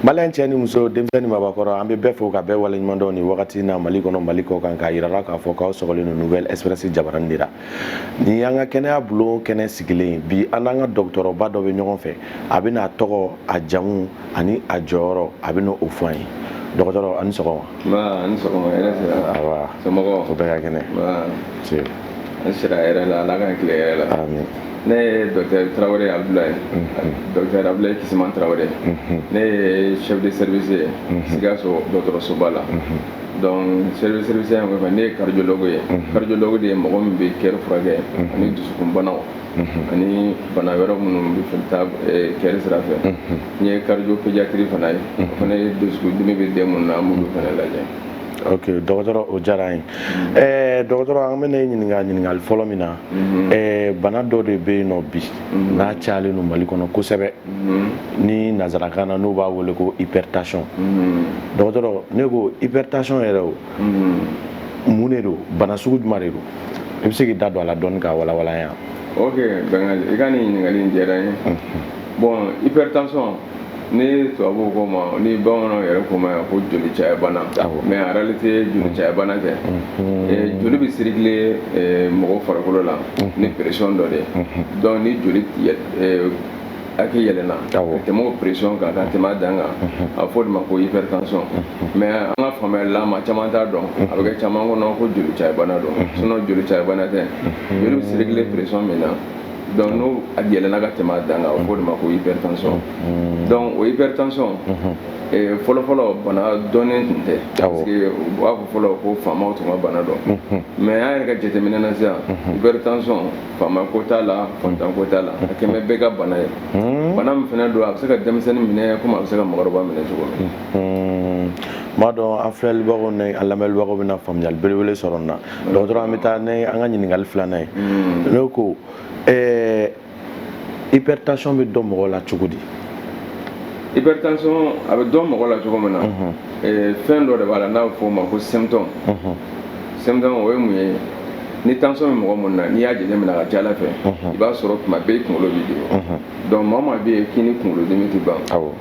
Malien cɛ ni muso denmisɛn ni maabakɔrɔ an bɛ bɛɛ fo ka bɛɛ waleɲumandɔn nin wagati na mali kɔnɔ mali kɔ kan k'a jira aw la k'a fɔ k'aw sɔrɔlen don nouvelle expression jabaranin na ni an ka kɛnɛya bulon kɛnɛ sigilen bi an n'an ka dɔgɔtɔrɔba dɔ bɛ ɲɔgɔn fɛ a bɛn'a tɔgɔ a jamu ani a jɔyɔrɔ a bɛna o fɔ an ye dɔgɔtɔrɔ aw ni sɔgɔma bɛɛ kɛnɛ An sira hɛrɛ la ala k'an tilen hɛrɛ la ne ye docteur tarawele abulayi docteur abulayi kisima tarawele ne ye chef de service ye sikaso dɔgɔtɔrɔsoba la donc service ne ye cardiologue ye cardiologue de ye mɔgɔ min bɛ cœur furakɛ ani dusukunbanaw ani bana wɛrɛ minnu bɛ cœur sira fɛ n ye cardio-pédiatre fana ye o fana ye dusukun dimi bɛ den minnu na an bɛ ninnu fana lajɛ ok dɔgɔtɔrɔ o diyara an ye ɛɛ dɔgɔtɔrɔ an bɛna e ɲininka ɲininkali fɔlɔ min na ɛɛ bana dɔ de bɛ yen n'o bi n'a cayalen don mali kɔnɔ kosɛbɛ ni nansarakan na n'u b'a wele ko hypertension dɔgɔtɔrɔ ne ko hypertension yɛrɛ o mun de don bana sugu jumɛn de don i bɛ se k'i da don a la dɔɔni k'a walawala yan ok bɛngali i ka nin ɲininkali in diyara n ye bɔn hypertension ni tubabu k'o ma ni bamananw yɛrɛ k'o ma ko joli cayabana mais en réalité joli cayabana tɛ mm-hmm. eh, joli bɛ circuler eh, mɔgɔ farikolo la mm-hmm. ni pression dɔ de mm-hmm. donc ni joli eh, hakɛ yɛlɛna ka tɛmɛ o pression kan ka tɛmɛ a dan kan a bɛ fɔ o de ma ko hypertension mais an ka faamuyali la maa caman t'a dɔn a bɛ kɛ caman kɔnɔ ko joli cayabana don sinon joli cayabana tɛ joli bɛ circuler pression min na donc n'a yɛlɛnna ka tɛmɛ a dan kan u k'o de ma ko hypertension mm-hmm. donc o hypertension mm-hmm. eh, fɔlɔfɔlɔ bana dɔnnen tun tɛ parce que u b'a fɔ fɔlɔ ko faamaw tun ka bana don mm-hmm. mais an yɛrɛ ka jateminɛ na sisan hypertension faama ko t'a la fantan ko t'a la a kɛlen bɛ bɛɛ ka bana ye bana min fana don a bɛ se ka denmisɛnnin minɛ komi a bɛ se ka mɔgɔkɔrɔba minɛ cogo min n b'a dɔn an filɛlibagaw ni an lamɛnbagaw bɛna faamuyali belebele sɔrɔ nin na dɔgɔtɔrɔ an bɛ taa n'an ka ɲininkali filanan ye hmm. ne ko ɛɛ hypertension bɛ dɔn mɔgɔ la cogo di hypertension a bɛ dɔn mɔgɔ la cogo min na mhm. fɛn dɔ de b'a la n'a bɛ fɔ o ma ko symptôme mhm. symptôme o ye mun ye ni tension bɛ mɔgɔ minnu na n'i y'a jateminɛ a ka ca a la fɛ mhm. i b'a sɔrɔ tuma bɛɛ i kunkolo b'i dimi donc maa o maa bɛ yen k'i ni kunkolodimi tɛ ban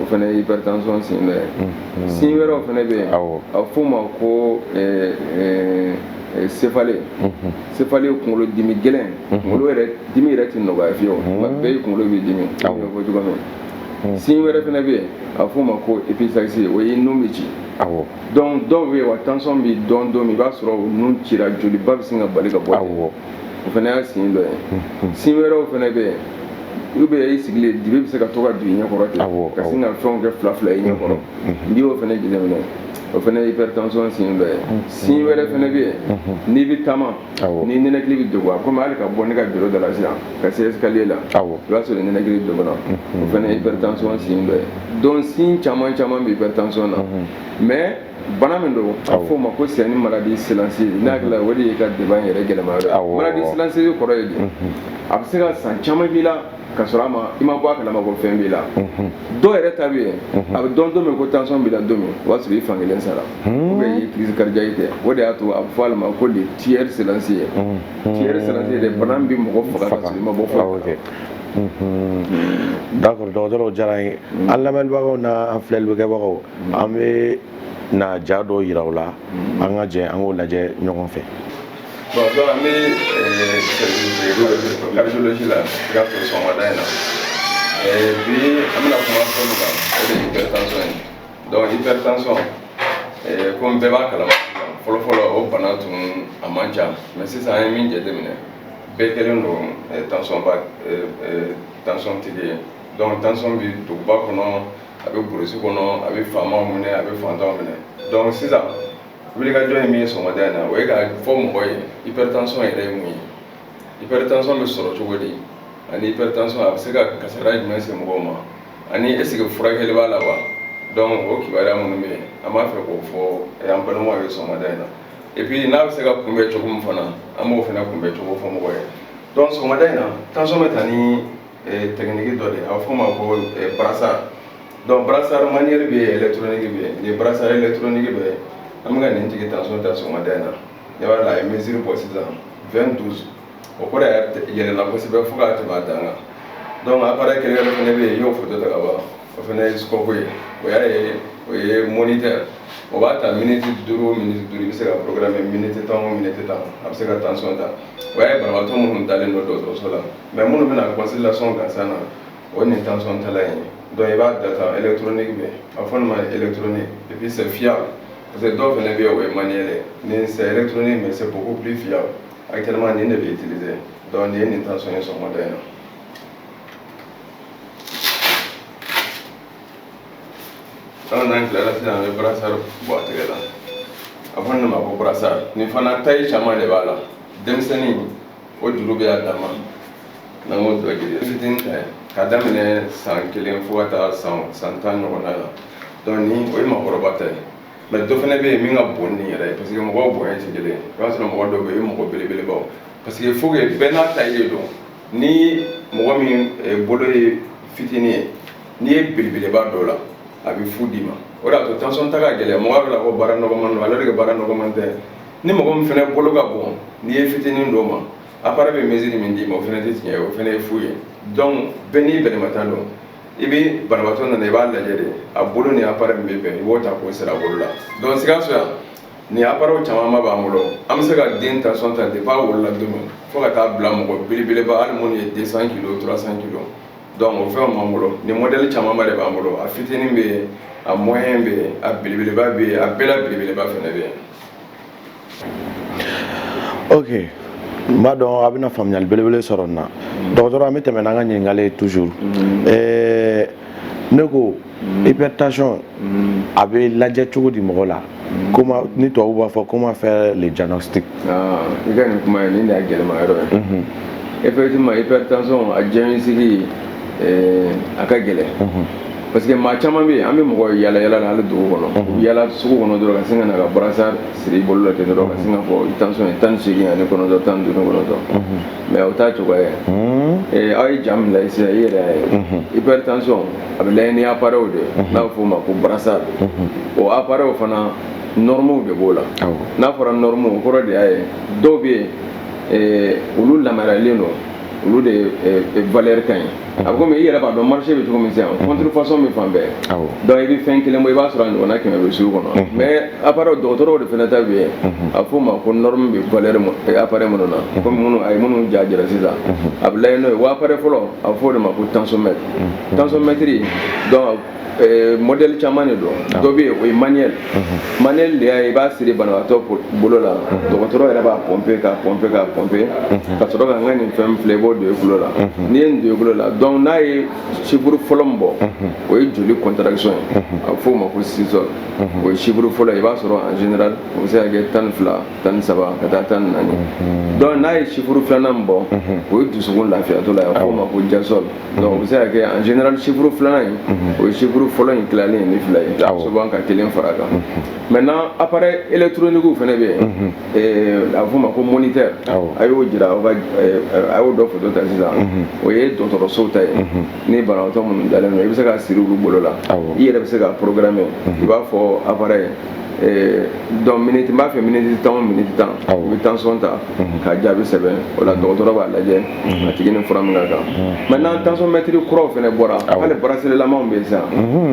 o fana ye hypertension signe dɔ ye mm-hmm. signe wɛrɛ fana bɛ yen a f'o ma ko eh, eh, eh, céphalée mm-hmm. céphalée ye kunkolo dimi gɛlɛn mm-hmm. kunkolo yɛrɛ dimi yɛrɛ tɛ nɔgɔya fewu tuma bɛɛ i kunkolo b'i dimi n y'o fɔ cogo min signe wɛrɛ fana bɛ yen a f'o ma ko épistaxis o ye nun bɛ ci donc dɔ bɛ yen a tension bɛ dɔn don min i b'a sɔrɔ nun cira joliba bɛ sin ka bali ka bɔ o fana y'a signe dɔ ye hmm. signe wɛrɛw fana bɛ yen olu bɛ i sigilen dibi bɛ se ka to ka don i ɲɛ kɔrɔ ten ka sin ka fɛnw kɛ fila fila i ɲɛ kɔrɔ n'i y'o fana jateminɛ o fana ye hypertension signe dɔ ye signe wɛrɛ fana bɛ yen n'i bɛ taama n'i ninakili bɛ degun a komi hali ka bɔ ne ka biro da la sisan ka se escalier la i b'a sɔrɔ ninakili degunna o fana ye hypertension signe dɔ ye donc signe caman caman bɛ hypertension na mais bana min don a fɔ o ma ko c'est une maladie silencieuse ne hakili o de y'i ka débat yɛrɛ gɛlɛman yɔrɔ maladie silencieuse kɔrɔ ye di a bɛ se ka san caman kɛ i la ka sɔrɔ a ma i ma bɔ a kalama ko fɛn b'i la dɔw yɛrɛ ta bɛ yen a bɛ dɔn don min ko tansɔn b'i la don min o b'a sɔrɔ i fankelen sara ou bien i ye crise cardiaque kɛ o de y'a to a bɛ fɔ a ma ko de tueur silencieux ye tueur silencieux de bana bɛ mɔgɔ faga ka sɔrɔ i ma bɔ fɔ d'accord dɔgɔtɔrɔ o diyara an ye an lamɛnbagaw n'an filɛlikɛbagaw an bɛna ja dɔ yira u la an ka jɛ an k'o lajɛ ɲɔgɔn fɛ bon donc an bɛ cardiologie la i ka sɔrɔ sɔgɔmada in na bi an bɛna kuma fɛn min kan o de ye hypertension ye donc hypertension komi bɛɛ b'a kalama fɔlɔfɔlɔ o bana tun a man ca mais sisan an ye min jateminɛ bɛɛ kɛlen don tension ba tension tigi ye donc tension bi duguba kɔnɔ a bɛ burusi kɔnɔ a bɛ faama minɛ a bɛ faantan minɛ dɔnku sisan wulikajɔ ye min ye sɔgɔmada in na o ye k'a fɔ mɔgɔw ye hypertension yɛrɛ ye mun ye hypertension bɛ sɔrɔ cogo di ani hypertension a bɛ se ka kasara jumɛn se mɔgɔw ma ani est-ce que furakɛli b'a la wa dɔnku o kibaruya minnu bɛ yen an b'a fɛ k'o fɔ an balimaw ye sɔgɔmada in na et puis n'a bɛ se ka kunbɛn cogo min fana an b'o fana kunbɛn cogo fɔ mɔgɔw ye dɔnku sɔgɔmada in na tansɔn bɛ ta ni technique dɔ de a f'o ma ko brassard donc brassard manuel bɛ yen électronique bɛ yen nin brassard électronique bɛ yen an bɛ ka nin cɛ in tansɔn ta sɔgɔmada in na ne b'a la a ye misisiriri bɔ sisan fɛn duuru o ko yɛlɛla kosɛbɛ fo k'a tɛmɛ dan kan dɔnku appareil kelen yɛrɛ fana bɛ yen y'o foto ta ka ban o fana ye scope ye o y'a ye o ye moniteur o b'a ta miniti duuru miniti duuru i bɛ se k'a programmer miniti tan o miniti tan a bɛ se ka tansɔn ta o y'a ye banabagatɔ minnu dalen don dɔgɔtɔrɔso la mais minnu bɛ na consultation gansan na o nin tansɔn talan ye donc i b'a data électronique bɛ a fɔ nin ma électronique et puis c'est fiable parce que dɔw fana bɛ yen o ye manuel nin c'est électronique mais c'est beaucoup plus fiable actuellement nin de bɛ utiliser donc nin ye nin tansɔn ye sɔgɔmada in na an n'an tilara sisan an bɛ brassard bɔ a tɛgɛ la a fɔ nin ma ko brassard nin fana taille caman de b'a la denmisɛnnin o juru bɛ y'a dama n'an ko dɔ jiri fitini ta ka daminɛ san kelen fo ka taa san san tan ɲɔgɔnna la donc ni o ye makɔrɔba ta ye mais dɔ fana bɛ yen min ka bon nin yɛrɛ ye parce que mɔgɔw bonya tɛ kelen ye i b'a sɔrɔ mɔgɔ dɔw bɛ yen o ye mɔgɔ belebelebaw parce que faut que bɛɛ n'a ta ye don ni mɔgɔ min eh, bolo ye fitini ye n'i ye belebeleba don a la a bɛ fu d'i ma o de y'a to tension ta ka gɛlɛn mɔgɔ bɛɛ la ko baara nɔgɔman don alors que baara nɔgɔman tɛ ni mɔgɔ min fana bolo ka bon n'i ye fitinin don a ma appareil bɛ mesure min d'i ma o fana tɛ tiɲɛ ye o fana ye fu ye donc bɛɛ n'i bɛrɛma ta don i bɛ banabaatɔ nana i b'a lajɛ de a bolo ni appareil min bɛ bɛn i b'o ta k'o siri a bolo la donc Sikaso yan nin appareil camanba b'an bolo an bɛ se ka den tension ta depuis a wolola don min fo ka taa bila mɔgɔ belebeleba hali minnu ye 200 kilos 300 kilos donc o fɛnw b'an bolo nin modèle camanba de b'an bolo a fitinin bɛ yen a moyen bɛ yen a belebeleba bɛ yen a bɛɛ la belebeleba fana bɛ yen ok n b'a dɔn a bɛna faamuyali belebele sɔrɔ nin na dɔgɔtɔrɔ an bɛ tɛmɛ n'an ka ɲininkali ye toujours mm-hmm. eh, ne ko mm-hmm. hypertension mm-hmm. a bɛ lajɛ cogo di mɔgɔ la comme ni tubabu b'a fɔ comment faire le diagnostic ah, i ka nin kuma ye nin de y'a gɛlɛma yɔrɔ ye effectivement hypertension a diagnostic eh, a ka gɛlɛn parce que maa caman bɛ yen an bɛ mɔgɔ yaala yaala la hali dugu kɔnɔ mhm. yaala sugu kɔnɔ dɔrɔn ka sin ka na ka brassard siri i bolo la ten dɔrɔn ka sin k'a fɔ i tension ye tan ni seegin ani kɔnɔntɔn tan ni duuru kɔnɔntɔn mhm. mais o t'a cogoya ye mhm. eh, aw ye ja min lajɛ sisan i yɛrɛ y'a ye hypertension a bɛ lajɛ ni appareil de ye n'a bɛ f'o ma ko brassard o appareil fana normes de b'o la n'a fɔra normes o kɔrɔ de y'a ye dɔw bɛ yen eh, olu yamaruyalen don olu de valeur ka ɲi a bɛ komi i yɛrɛ b'a dɔn marché bɛ cogo min sisan contrefaçon bɛ fan bɛɛ donc i bɛ fɛn kelen bɔ i b'a sɔrɔ a ɲɔgɔnna kɛmɛ bɛ sugu kɔnɔ mais appareil dɔgɔtɔrɔw de fana ta bɛ yen a bɛ f'o ma ko norme bɛ valeur appareil minnu na komi minnu a ye minnu ja jira sisan a bɛ lajɛ n'o ye wa appareil fɔlɔ a bɛ f'o de ma ko tensiomètre tensiomètre donc Eh, modèle caman de don ah. dɔ bɛ yen o ye manuel mhm. manuel de y'a ye i b'a siri banabaatɔ bolo la mhm. dɔgɔtɔrɔ yɛrɛ b'a pɔnpe k'a pɔnpe k'a pɔnpe mhm. ka sɔrɔ ka n ka nin fɛn filɛ i b'o don i tulo la n'i ye nin don i tulo la donc n'a ye chiffre fɔlɔ min bɔ o ye joli contraction ye a bɛ f'o ma ko systole o ye chiffre fɔlɔ ye i b'a sɔrɔ en général o bɛ se ka kɛ tan ni fila tan ni saba ka taa tan ni naani donc n'a ye chiffre filanan min bɔ o ye dusukun lafiyatɔ la ye a bɛ f'o ma ko diastole donc o bɛ se ka kɛ en général chiffre filanan in o ye chiffre fɔlɔ in tilalen ye ni fila ye souvent ka kelen fara a kan maintenant appareil électronique fana bɛ yen a bɛ f'o ma ko moniteur a y'o jira aw ka a y'o dɔ foto ta sisan o ye dɔgɔtɔrɔsow ta ye ni banabaatɔ minnu dalen don i bɛ se k'a siri olu bolo la i yɛrɛ bɛ se k'a programmer i b'a fɔ appareil donc miniti n b'a fɛ miniti tan o miniti tan i bɛ tansɔn ta ka jaabi sɛbɛn o la dɔgɔtɔrɔ b'a lajɛ a tigi ni fura min ka kan maintenant tansɔnmɛtiri kuraw fana bɔra hali braceletlamanw bɛ sisan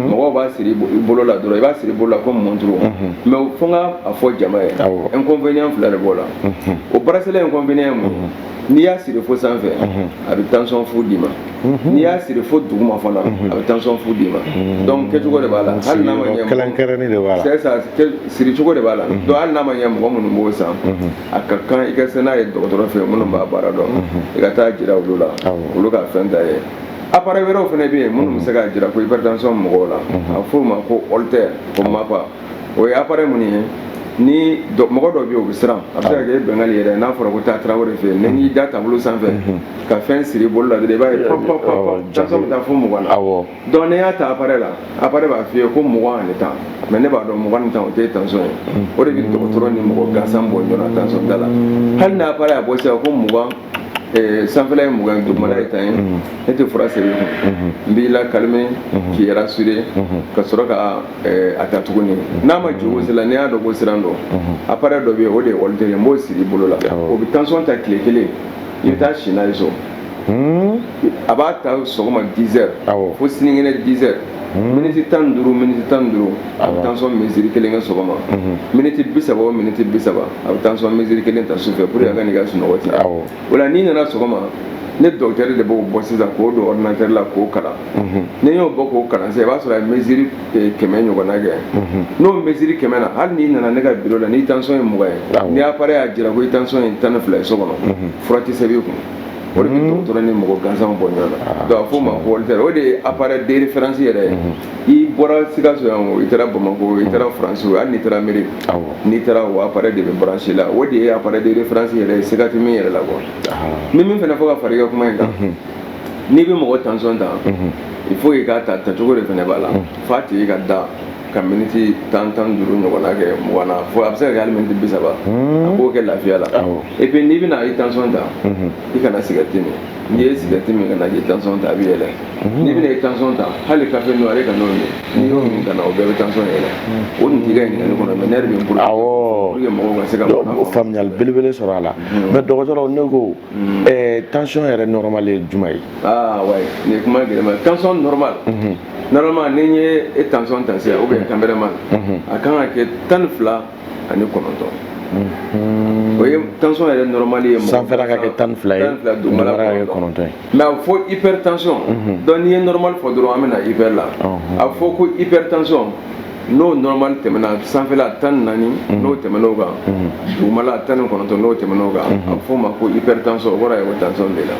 mɔgɔw b'a siri bolo la dɔrɔn i b'a siri bolo la komi mɔnturu mɛ fo n ka a fɔ jama ye inconvénient fila de b'o la o bracelet inconvénient ye mun n'i y'a siri fo sanfɛ a bɛ tansɔn fu d'i ma n'i y'a siri fo duguma fana a bɛ tansɔn fu d'i ma dɔnku kɛcogo de b'a la hali n'a ma ɲɛ kɛrɛnkɛrɛnnen de b'a la c'est ça siri cogo de b'a la donc hali n'a ma ɲɛ mɔgɔ minnu b'o san a ka kan i ka se n'a ye dɔgɔtɔrɔ fɛ minnu b'a baara dɔn i ka taa jira olu la olu ka fɛn ta ye appareil wɛrɛw fana bɛ yen minnu bɛ se k'a jira ko hypertension mɔgɔw la a bɛ f'o ma ko holter ko mapa o ye appareil mun ye ni mɔgɔ dɔ bɛ yen o bɛ siran a bɛ se ka kɛ bɛngali yɛrɛ n'a fɔra ko taa tarawele fɛ yen n'i da tabali sanfɛ mhm. ka fɛn siri bolo la dɔrɔn i b'a ye pɔp pɔp pɔp caman bɛ taa fo mugan na donc n'i y'a ta appareil la appareil b'a f'i ye ko mugan ani tan mɛ ne b'a dɔn mugan ni tan o tɛ tension ye mhm. o de bɛ dɔgɔtɔrɔ ni mɔgɔ gansan bɔ ɲɔgɔn na tension t'a la hali n'a appareil y'a bɔ sisan ko mugan sanfɛla ye mugan ye dugumana ye tan ye ne tɛ fura sɛbɛn i kun n b'i lakalime k'i rassurer ka sɔrɔ ka a ta tuguni n'a ma jigin sisan n'i y'a dɔn ko siran don appareil dɔ bɛ yen o de ye holter ye n b'o siri i bolo la o bɛ tansɔn ta tile kelen i bɛ taa si n'a ye so a b'a ta sɔgɔma dix heures fo sinikɛnɛ dix heures miniti tan duuru miniti tan duuru a bɛ tansɔn mesure kelen kɛ sɔgɔma miniti bi saba o miniti bi saba a bɛ tansɔn mesure kelen ta sufɛ pour que a kan'i ka sunɔgɔ tiɲɛ awɔ o la n'i nana sɔgɔma ne dɔgɔtɛri de b'o bɔ sisan k'o don ɔrdinatɛri la k'o kalan n'i y'o bɔ k'o kalan sisan i b'a sɔrɔ a ye mesure eh, kɛmɛ ɲɔgɔnna kɛ n'o mesure kɛmɛ na hali n'i nana ne ka biro la n'i tansɔn ye mugan ye Awɔ. ni appareil y'a jira ko i tansɔn ye tan ni fila ye so kɔnɔ fura tɛ sɛbɛn i kun o de bɛ dɔgɔtɔrɔ ni mɔgɔ gansanw bɔ ɲɔgɔn na donc a f'o ma ko holter o de ye appareil de référence yɛrɛ ye i bɔra sikaso yan o i taara bamakɔ i taara faransi hali n'i taara ameriki n'i taara o appareil de bɛ branché la o de ye appareil de référence yɛrɛ ye siga tɛ min yɛrɛ la quoi n bɛ min fana fɔ ka fara i ka kuma in kan n'i bɛ mɔgɔ tension ta il faut i k'a ta tacogo de fana b'a la f'a tigi ka da ka miniti tan tan duuru ɲɔgɔnna kɛ mugan na fo a bɛ se ka kɛ hali miniti bi saba a k'o kɛ lafiya la et puis n'i bɛna i tension ta i kana sigarɛti min n'i ye sigarɛti min ka na i tansɔn ta a bɛ yɛlɛ n'i bɛna i tansɔn ta hali kafe noir ka n'o ye n'i y'o min ka na o bɛɛ bɛ tansɔn yɛlɛ o nin tun bɛ ɲininkali kɔnɔ mɛ ne yɛrɛ bɛ bolo awɔ pour que mɔgɔw ka se ka faamuyali belebele sɔrɔ a la mɛ dɔgɔtɔrɔ ne ko tansɔn yɛrɛ nɔrɔmali ye juma ye aa wayi nin ye kuma gɛlɛman ye tansɔn nɔrɔmali normalement ni n ye i tansɔn ta sisan ubiyɛn tanpɛrɛmali a kan ka kɛ tan ni fila ani kɔnɔntɔn o ye tension yɛrɛ normal ye sanfɛla ka kɛ tan fila ye dugumala ka kɛ kɔnɔntɔn ye mais a fɔ hypertension donc n'i ye normal fɔ dɔrɔn an bɛ na hyper la a fɔ ko hypertension n'o normal tɛmɛna sanfɛla tan naani n'o tɛmɛn'o kan dugumala ta kɔnɔntɔn n'o tɛmɛn'o kan a bɛ fɔ o ma ko hypertension o kɔrɔ ye ko tension b'i la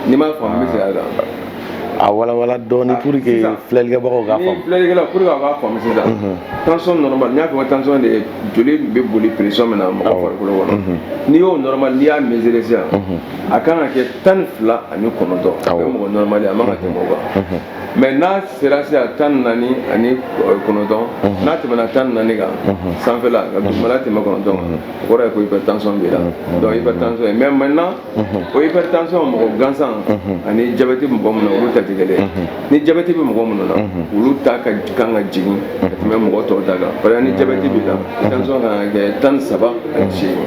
n'i m'a faamu n bɛ segin a kan a walawala dɔɔni pour que filɛlikɛbagaw k'a faamu filɛlikɛla pour que a k'a faamu sisan mhm. tension normal n'i y'a fɔ tension de ye joli bɛ boli pression min na mɔgɔ farikolo kɔnɔ mhm. n'i y'o normal n'i y'a mesurer sisan mhm. a kan ka kɛ tan ni fila ani kɔnɔntɔn o ye mɔgɔ normal ye a man ka tɛmɛ o kan mais n'a sera sisan tan ni naani ani euh, kɔnɔntɔn n'a tɛmɛna tan ni naani kan sanfɛla ka dugumala tɛmɛ kɔnɔntɔn kan o kɔrɔ ye ko hypertension b'i la donc hypertension ye mais maintenant o hypertension mɔgɔ gansan ani diabète bɛ mɔgɔ minnu na olu ta tɛ kelen ni diabète bɛ mɔgɔ minnu na olu ta ka kan ka jigin ka tɛmɛ mɔgɔ tɔw ta kan parce que ni diabète b'i la tension kan ka kɛ tan ni saba ani seegin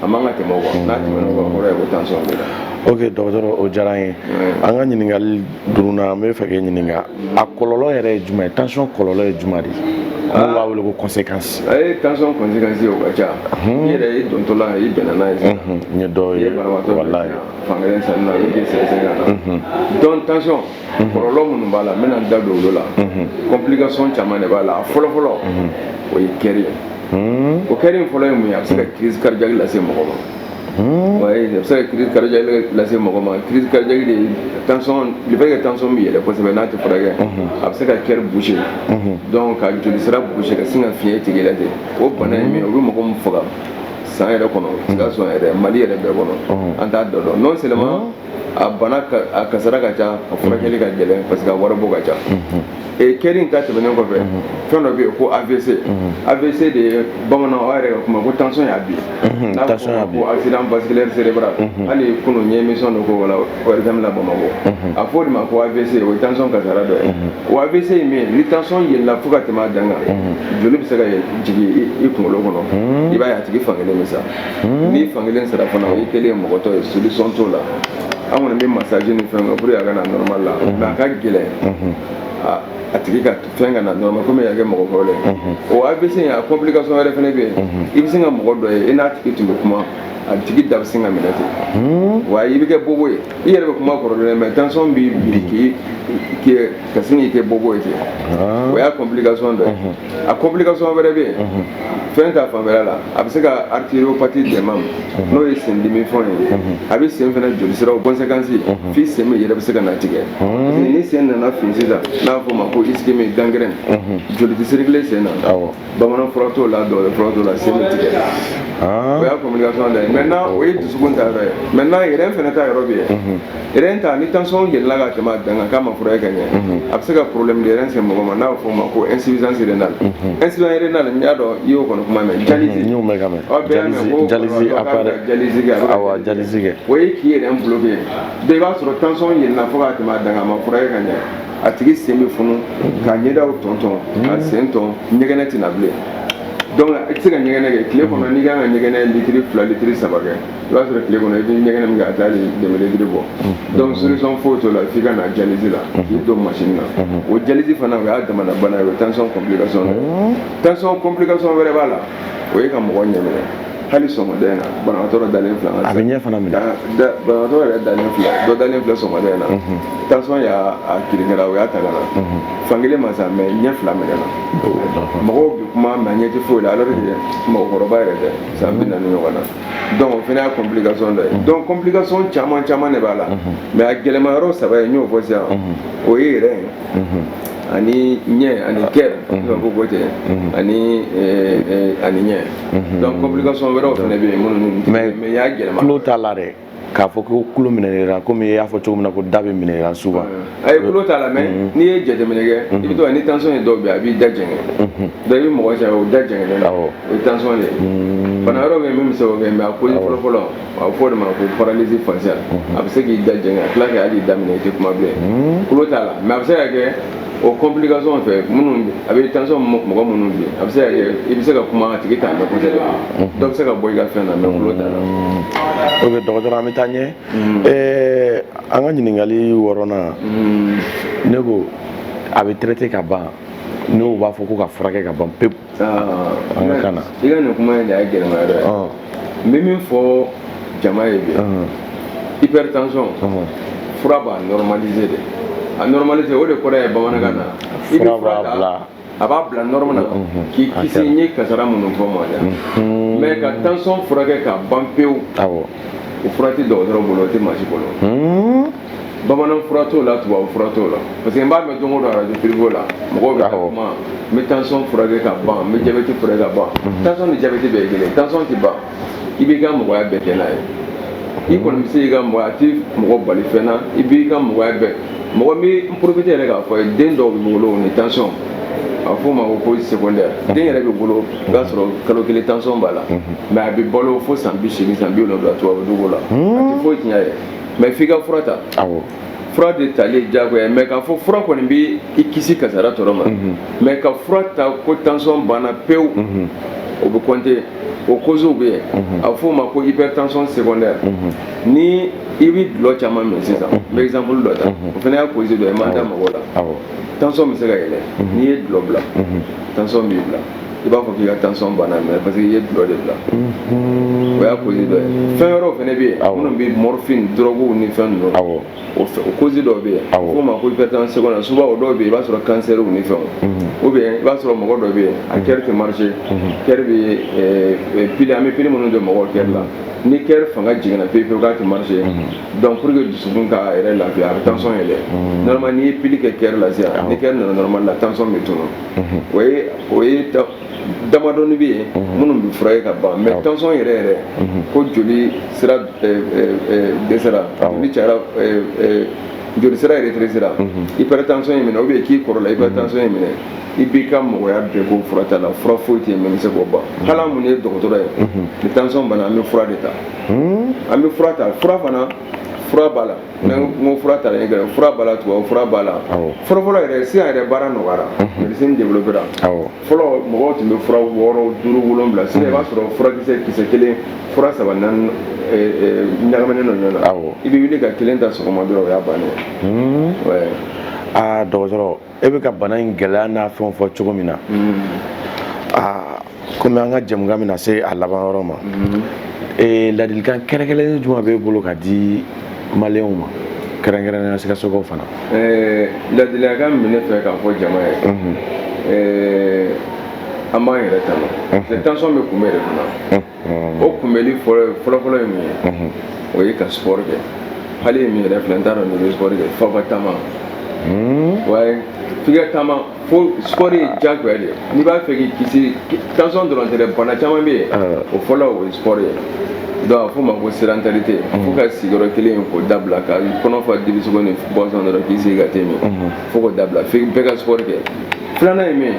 a man ka tɛmɛ o kan n'a tɛmɛna o kan kɔrɔ ye ko tension b'i la. ok docteur o diyara an ye an ka ɲininkali duurunan an bɛ fɛ k'e ɲininka a kɔlɔlɔ yɛrɛ ye jumɛn ye tension kɔlɔlɔ ye jumɛn de n'u b'a wele ko conséquence a ye tension conséquence o ka ca i yɛrɛ dontɔla i bɛnna n'a ye n ye dɔw ye walayi fankelen salen i bɛ sɛgɛsɛgɛ ka na donc tension kɔlɔlɔ minnu b'a la n bɛna n da don olu la complication caman de b'a la a fɔlɔ fɔlɔ o ye cœur ye o cœur in fɔlɔ ye mun ye a bɛ se ka crise cardiaque lase mɔgɔ ma a bɛ se ka crise cardiaque lase mɔgɔ ma crise cardiaque de ye tension le fait que tension bɛ yɛlɛ kosɛbɛ n'a tɛ furakɛ a bɛ se ka cœur boucher donc ka joli sira boucher ka sin ka fiɲɛ tigɛ la ten o bana ye min ye o bɛ mɔgɔ min faga san yɛrɛ kɔnɔ sikaso yɛrɛ mali yɛrɛ bɛɛ kɔnɔ an t'a da dɔn non seulement a bana a kasara ka ca a furakɛli ka gɛlɛn parce que a waribɔ ka ca e cœur in ta tɛmɛnen kɔfɛ fɛn dɔ bɛ yen ko avc avc de ye bamanan aw yɛrɛ ka kuma ko tension y'a bin n'a fɔ ko accident vasculaire cérébral hali kunu n ye émission dɔ ko wala ORTM la Bamakɔ a fɔ o de ma ko avc o ye tension kasara dɔ ye o avc ye min ye ni tension yɛlɛla fo ka tɛmɛ a dan kan joli bɛ se ka jigin i kunkolo kɔnɔ i b'a ye a tigi fankelen bɛ sa hmm. ni fankelen sara fana i kɛlen ye mɔgɔtɔ ye solution t'o la an kɔni bɛ massage ni fɛn kɛ pour que a ka na normal la hmm. mais a ka gɛlɛn hmm. a tigi ka fɛn ka na normal comme y'a kɛ mɔgɔ kɔrɔ ye o AVC in a complication wɛrɛ fana bɛ yen i bɛ sin ka mɔgɔ dɔ ye i n'a tigi tun bɛ kuma a tigi da bɛ sin ka minɛ ten wa i bɛ kɛ bobo ye i yɛrɛ bɛ kuma kɔrɔlen mais tension b'i bin ka sin k'i kɛ bobo ye ten o y'a complication dɔ ye a complication wɛrɛ bɛ yen fɛn ta fan yɛrɛ la a bɛ se ka artériopathe dɛmɛ n'o ye sen dimi fɛn ye a bɛ sen fana joli siraw conséquence f'i sen bɛ yɛrɛ bɛ se ka na tigɛ ni sen nana fin sisan n'a fɔ ma ko ischémie gangrène joli tɛ circuler sen na bamanan fura t'o la dɔgɔtɔrɔ fura t'o la sen bɛ tigɛ o y'a complication dɔ ye maintenant o ye dusukun ta yɔrɔ ye maintenant rein fana ta yɔrɔ bɛ yen Rein ta ni tension yɛlɛla ka tɛmɛ dan kan k'a ma furakɛ ka ɲɛ a bɛ se ka problème de rein se mɔgɔ ma n'a fɔ o ma ko insuffisance rénale insuffisance rénale n y'a dɔn i y'o kɔni kuma mɛn dialyse dialyse o ye k'i rein problème ye bɛɛ b'a sɔrɔ tension yɛlɛla fo ka tɛmɛ dan kan a ma furakɛ ka ɲɛ a tigi sen bɛ funu ka ɲɛdaw tonton ka sen ton ɲɛgɛnɛ tɛ na bilen donc i tɛ se ka ɲɛgɛnɛ kɛ tile kɔnɔ n'i ka kan ka ɲɛgɛnɛ litiri fila litiri saba kɛ i b'a sɔrɔ tile kɔnɔ i bɛ ɲɛgɛnɛ min kɛ a tɛ demi litiri bɔ donc solution foyi t'o la f'i ka na dialyse la k'i don machine na o dialyse fana o y'a damana bana ye o ye tension complication de ye tension complication wɛrɛ b'a la o ye ka mɔgɔ ɲɛ minɛ hali sɔgɔmada in na banabagatɔ dɔ dalen filɛ an ka a bɛ ɲɛ fana minɛ banabagatɔ yɛrɛ dalen filɛ dɔ dalen filɛ sɔgɔmada in na tension y'a a kirin kɛra u y'a ta ka na fankelen ma sa mais ɲɛ fila minɛna mɔgɔw bɛ kuma mais ɲɛ tɛ foyi la alors que mɔgɔkɔrɔba yɛrɛ tɛ san bi naani ɲɔgɔn na donc o fana y'a complication dɔ ye mhm. donc complication caman caman de b'a la mhm. mais a gɛlɛma yɔrɔ saba ye n y'o fɔ sisan mhm. o ye rein ye ani ɲɛ ani cœur n'o ko côté ani eh, eh, ani ɲɛ donc complication wɛrɛw fana bɛ yen minnu mais y'a gɛlɛman o t'a la dɛ k'a fɔ ko tulo minɛra komi i y'a fɔ cogo min na ko da bɛ minɛ souvent a ye tulo t'a la mais mhm. n'i ye jateminɛ kɛ i mhm. bɛ to ni tension ye dɔw bɛ a b'i da jɛngɛ mhm. dɔ i bɛ mɔgɔ ye o da jɛngɛlen don o ye tension de ye bana wɛrɛ bɛ yen min bɛ se k'o kɛ mais a cause fɔlɔ fɔlɔ a bɛ fɔ o de ma ko paralysie faciale a bɛ se k'i da jɛngɛ a tila ka hali da minɛ i tɛ kuma bilen tulo t'a la mais a bɛ se ka kɛ o complication fɛn minnu a bɛ tension mɔgɔ minnu bi a bɛ se ka kɛ i bɛ se ka kuma a tigi t'a mɛn kosɛbɛ dɔ bɛ se ka bɔ i ka fɛn na mais tulo t'a la. ok dɔgɔtɔrɔ an bɛ taa ɲɛ ɛɛ an ka ɲininkali wɔɔrɔnan ne ko a bɛ traiter ka ban n'o b'a fɔ ko ka furakɛ ka ban pewu. an ka kan na i ka nin kuma in de y'a gɛlɛma yɔrɔ ye ɔ n bɛ min fɔ jama ye bi ɔhɔn, hypertension ɔhɔn. fura b'a normaliser de a normaliser o de kɔrɔ ye bamanankan na i bɛ Fura fura b'a ta bila. a b'a bila norme na Mhm. k'i kisi kɛra. n ye kasara minnu fɔ ma dɛ Mhm. mais ka tension furakɛ ka ban pewu awɔ o fura tɛ dɔgɔtɔrɔ bolo o tɛ maa si bolo Hmm, bamanan fura t'o la tubabu fura t'o la parce que n b'a mɛn don o don arajo privéw la mɔgɔw bɛ kuma n bɛ tansɔn furakɛ ka ban n bɛ jabɛti furakɛ ka ban tansɔn ni jabɛti bɛɛ ye kelen tansɔn tɛ ban i b'i ka mɔgɔya bɛɛ kɛ n'a ye i kɔni bɛ se k'i ka mɔgɔya a tɛ mɔgɔ bali fɛn na i b'i ka mɔgɔya bɛɛ mɔgɔ bɛ n porofite yɛrɛ k'a fɔ i ye den dɔw bɛ wolo ni tansɔn a bɛ f'o ma ko ko secondaire den yɛrɛ bɛ wolo i b'a sɔrɔ kalo kelen tansɔn b'a la mais a bɛ balo fo san bi seegin san bi wolonwula tubabu dugu la a tɛ foyi tiɲɛ a ye mais f'i ka fura ta fura de tali jagoya mais k'a fɔ fura kɔni bɛ i kisi kasara tɔɔrɔ ma mhm. mais ka fura ta ko tansɔn banna pewu mhm. o bɛ compté o koziw bɛ yen mhm. a bɛ f'o ma ko hypertension secondaire ni i bɛ dulɔ caman min sisan n bɛ exemple dɔ ta o fana y'a kozi dɔ ye n ma da mɔgɔw la tansɔn bɛ se ka yɛlɛ n'i ye dulɔ bila tansɔn b'i bila i b'a fɔ k'i ka tansɔn banna mais parce que i ye dulɔ de bila mhm. o y'a kosi dɔ ye fɛn wɛrɛw fana bɛ yen minnu bɛ morphine dɔrɔguw ni fɛn ninnu o kosi dɔw bɛ yen f'o ma ko hypertension secondaire souvent o dɔw bɛ yen i b'a sɔrɔ kansɛriw ni fɛnw mhm. ou bien i b'a sɔrɔ mɔgɔ dɔ bɛ yen a kɛri mhm. tɛ marché kɛri bɛ eh, eh, pili an bɛ pili minnu jɔ mɔgɔw kɛri la ni kɛri fanga jiginna pewu pewu k'a tɛ marché donc pour que dusukun k'a yɛrɛ lafiya a bɛ tansɔn yɛlɛ normalement n'i ye pili kɛ kɛri la sisan ni kɛri nana normalement la tansɔn bɛ tunun o ye o ye damadɔni bɛ yen minnu bɛ furakɛ ka ban mais tansɔn yɛrɛ yɛrɛ ko joli sira dɛsɛra ni cayara joli sira yɛrɛ rétrécira hypertension y'i minɛ o bɛ k'i kɔrɔla hypertension y'i minɛ i b'i ka mɔgɔya bɛɛ kɛ furata la fura foyi tɛ yen min bɛ se k'o ban hali an minnu ye dɔgɔtɔrɔ ye ni tansɔn b'an na an bɛ fura de ta an bɛ fura ta fura fana fura b'a la n'an mhm. ko fura talen gɛrɛ fura b'a la tubabu fura b'a la fɔlɔfɔlɔ yɛrɛ sisan yɛrɛ baara nɔgɔyara mhm. médecine développera fɔlɔ mɔgɔw tun bɛ fura wɔɔrɔ duuru wolonwula sisan i b'a mhm. sɔrɔ furakisɛ kisɛ kelen fura saba naani eh, eh, ɲagaminen don ɲɔgɔn na i bɛ wuli ka kelen ta sɔgɔma dɔrɔn o y'a bannen ye aa dɔgɔtɔrɔ e bɛ ka bana in gɛlɛya n'a fɛn fɔ cogo min na aa kɔmi an ka jɛmukan bɛna se a laban yɔrɔ ma ladilikan kɛrɛnkɛrɛnnen jumɛn b'e bolo ka di maliyɛnw ma kɛrɛnkɛrɛnnenya sikasokaw fana ladilikan min bɛ ne fɛ k'a fɔ jama ye an b'an yɛrɛ tanga tension bɛ kunbɛn de kunna o kunbɛnni fɔlɔfɔlɔ ye min ye o ye ka sport kɛ hali e min yɛrɛ filɛ n t'a dɔn n'i bɛ sport kɛ faba taama waye f'i ka taama fo sport ye jagoya de ye n'i b'a fɛ k'i kisi tansɔn dɔrɔn tɛ dɛ bana caman bɛ yen o fɔlɔ o ye sport ye donc a f'o ma ko sédentarité fo ka sigiyɔrɔ kelen in k'o dabila ka kɔnɔ fa dibisogo ni boisson dɔrɔn k'i sigi ka te min fo k'o dabila fo bɛɛ ka sport kɛ filanan ye min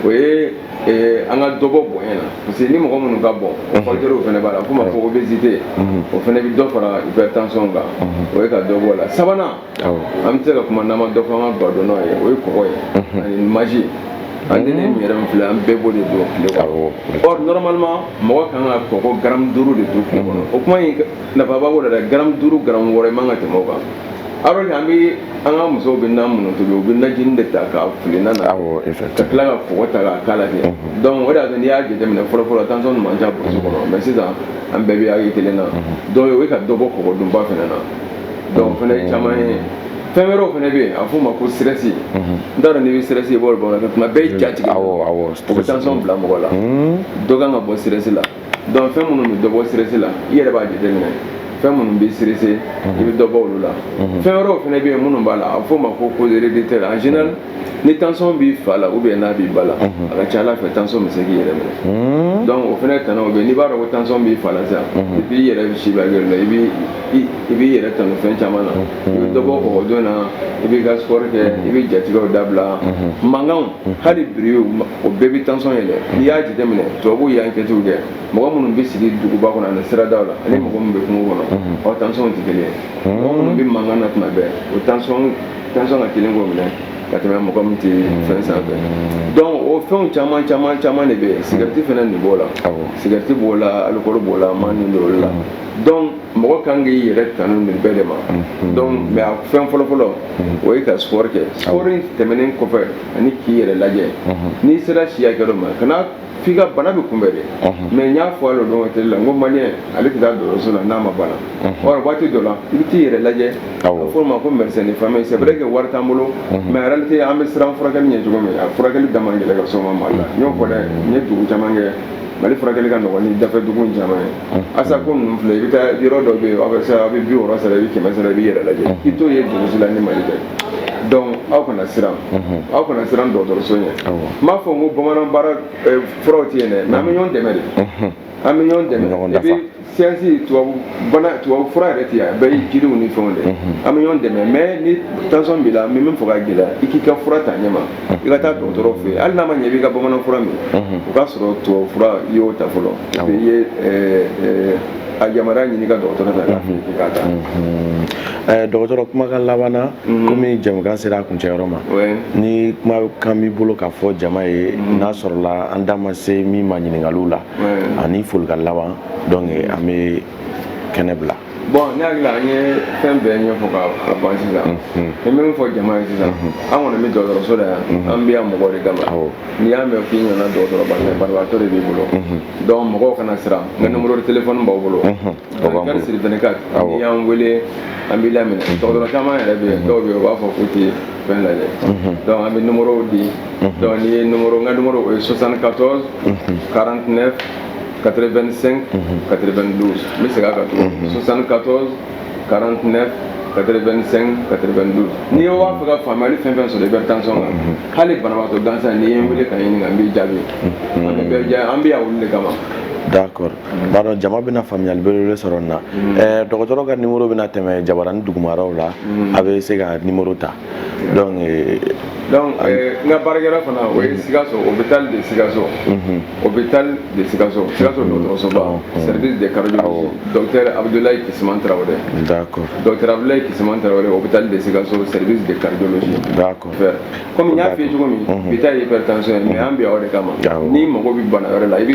o ye Eh, an ka dɔ bɔ bonya na parce que ni mɔgɔ minnu ka bon mhm. fakitɛriw fana b'a la ko ma fɔ obésité mhm. o fana bɛ dɔ fara hypertension kan mhm. o ye ka dɔ bɔ la sabanan an tɛ se ka kuma n'an ma dɔ fɔ an ka badenmaw ye o ye kɔgɔ ye ani maji an tɛ ne min yɛrɛ min filɛ an bɛɛ b'o de dun tile kɔnɔ or normalement mɔgɔ kan ka kɔgɔ garamu duuru de dun tile kɔnɔ o kuma in nafaba b'o la dɛ garamu duuru garamu wɔɔrɔ i man ka tɛmɛ o kan alors que an bɛ an ka musow bɛ nan minnu tobi u bɛ najini de ta k'a fili nan na ka tila ka kɔgɔ ta k'a k'a la ten mhm. donc o de y'a to n'i y'a jateminɛ fɔlɔfɔlɔ tension tun man ca burusi kɔnɔ mais sisan an bɛɛ bɛ hakɛ kelen na mhm. donc o bɛ ka dɔ bɔ kɔgɔ dunba fana na donc o fana ye caman ye fɛn wɛrɛw fana bɛ yen a f'o ma ko stress mhm. n t'a dɔn n'i bɛ stress ye bɔ bamanankan tuma bɛɛ i jatigɛ o bɛ tension bila mɔgɔ la dɔ kan ka bɔ stress la dɔnku fɛn minnu bɛ dɔ bɔ stress la i yɛrɛ b'a jateminɛ fɛn minnu b'i stresser i bɛ dɔ bɔ olu la fɛn wɛrɛw fana bɛ yen minnu b'a la a f'o ma ko cause héréditaire en général ni tansɔn b'i fa la ou bien a b'i ba la a ka ca a la fɛ tansɔn bɛ se k'i yɛrɛ minɛ dɔnku o fana tana o bɛ n'i b'a dɔn ko tansɔn b'i fa la sisan i b'i yɛrɛ si la i i b'i yɛrɛ tanga fɛn caman na i bɛ dɔ bɔ kɔgɔdun na i b'i ka sport kɛ i bɛ jatigɛw dabila mankanw hali bruitw o bɛɛ bɛ tansɔn yɛlɛn n'i y'a jateminɛ tubabuw y'ankɛtiw kɛ mɔgɔ minnu bɛ sigi duguba kɔnɔ ani siradaw la ani mɔgɔ minnu bɛ kungo kɔnɔ ɔ tansɔnw tɛ kelen ye mɔgɔ minnu bɛ mankan na tuma bɛɛ o tansɔn tansɔn ka teli k'o minɛ ka tɛmɛ mɔgɔ min tɛ fɛn sanfɛ donc o fɛnw caman caman caman de bɛ yen sigarɛti fana nin b'o la sigarɛti b'o la alikɔli b'o la man nin b'o la donc mɔgɔ kan k'i yɛrɛ tanga nin bɛɛ de ma donc mais a fɛn fɔlɔfɔlɔ o ye ka sport kɛ sport in tɛmɛnen kɔfɛ ani k'i yɛrɛ lajɛ n'i sera si hakɛ ma kana f'i ka bana bɛ kunbɛn de mɛ n y'a fɔ a don dɔ tele la n ko maliyɛn tɛ taa dɔgɔtɔrɔso la n'a ma bana ɔ waati dɔ la i bɛ t'i yɛrɛ lajɛ k'a f'o ma ko mɛsɛn fa ye sɛbɛnɛrɛ kɛ wari t'an bolo mɛ yɛrɛ tɛ an bɛ siran furakɛ ɲɛ cogo min a furakɛli da gɛlɛ ka soma mali la n y'o fɔ dɛ n ye dugu caman kɛ mali furakɛli ka nɔgɔn ni dafe dugu caman ye asa ko ninnu filɛ i bɛ taa yɔrɔ dɔ bɛ yen aw bɛ se aw bɛ bi wɔɔrɔ sara i bɛ kɛmɛ sara i b'i yɛrɛ lajɛ i t'o ye dugu si la ni mali tɛ dɔnku aw kana siran aw kana siran dɔgɔtɔrɔso ɲɛ n m'a fɔ n ko bamanan bara furaw tɛ yen dɛ mɛ an bɛ ɲɔgɔn dɛmɛ de an bɛ ɲɔgɔn dɛmɛ epi siyansi tubabu bana tubabu fura yɛrɛ tɛ yan bɛɛ ye jiriw ni fɛnw de an bɛ ɲɔgɔn dɛmɛ mɛ ni tansɔn b'i la min bɛ fɔ ka gɛlɛya i k'i ka fura ta ɲɛma i ka taa dɔgɔtɔrɔ fɛ yen hali n'a ma ɲɛ i b'i ka bamanan fura min o k'a sɔrɔ tubabu fura i y'o ta fɔlɔ i ye a yamaruya ɲini i ka dɔgɔtɔrɔ fɛ k'a f'i k'a ta. Ɛɛ, dɔgɔtɔrɔ kumakan laban na komi jɛmukan sera a kuncɛyɔrɔ ma Ouais. ni kumakan b'i bolo k'a fɔ jama ye n'a sɔrɔla an da ma se min ma ɲininkaliw la Ouais. ani folikan laban donc an bɛ kɛnɛ bila Bon, ne hakili la an ye fɛn bɛɛ ɲɛfɔ ka ka ban sisan. N bɛ min fɔ jama ye sisan, an kɔni bɛ dɔgɔtɔrɔso la yan, an bɛ yan mɔgɔ de kama. Awɔ. n'i y'a mɛn k'i ɲɔgɔnna dɔgɔtɔrɔba tɛ banabagatɔ de b'i bolo donc mɔgɔw kana siran n ka numéro de téléphone b'aw bolo 24 sur 24 n'i y'an wele an b'i laminɛ dɔgɔtɔrɔ caman yɛrɛ bɛ yen dɔw bɛ yen u b'a fɔ k'u tɛ fɛn lajɛ donc an bɛ numéro di donc n'i ye numéro n ka numéro o ye 74 49 85 92 n bɛ segin a kan tuguni 74 49 85 92 ni e b'a fɛ ka faamuyali fɛn fɛn sɔrɔ hypertension kan hali banabagatɔ gansan n'i ye n wele ka n ɲininka n b'i jaabi an bɛ bɛɛ jaabi an bɛ yan olu de kama d'accord n b'a dɔn jama bɛna faamuyali belebele sɔrɔ nin na dɔgɔtɔrɔ ka numéro bɛna tɛmɛ jabaranin dugumaraw la a bɛ se ka numéro ta donc euh, donc euh, n ka baarakɛyɔrɔ fana o ye sikaso hôpital de sikaso hôpital de sikaso sikaso dɔgɔtɔrɔsoba service de cardiologie docteur abdoulaye kisiman tarawele d'accord docteur abdoulaye kisiman tarawele hôpital de sikaso service de cardiologie d'accord comme n y'a f'i ye cogo min bi ta ye hypertension ye mais an bɛ yan o de kama n'i mago bɛ bana wɛrɛ la i bɛ